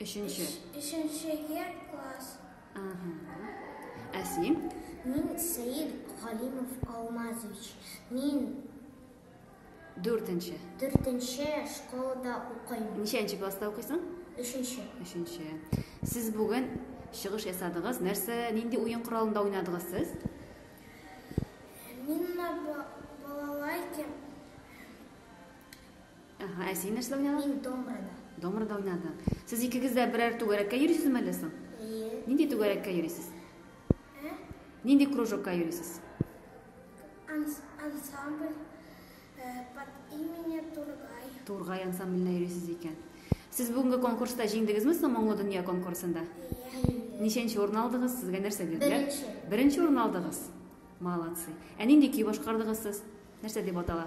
Өченче. Өченче ел класс. Ага. Ә син? Мин Сәет Галимов Алмазович. Мин Дүртенче. Дүртенче школада укыйм. Ничәнче класста укыйсың? Өченче. Өченче. Сез бүген чыгыш ясадыгыз. Нәрсә, нинди уен коралында уйнадыгыз сез? Мин балалайкам Ага, ә син нәрсә уйнадың? Мин домрада. Домрада уйнадың. Сез икегез дә берәр түгәрәккә йөрисезме әллә соң? Әйе. Нинди түгәрәккә йөрисез? Ә? Нинди кружокка йөрисез? Ансамбль э, под именем Тургай. Тургай ансамбленә йөрисез икән. Сез бүгенге конкурста җиңдегезме соң Моңлы дөнья конкурсында? Әйе. Ничәнче урын алдыгыз? Сезгә нәрсә бирделәр? Беренче. Беренче урын алдыгыз. Молодцы. Ә нинди көй башкардыгыз сез? Нәрсә дип атала?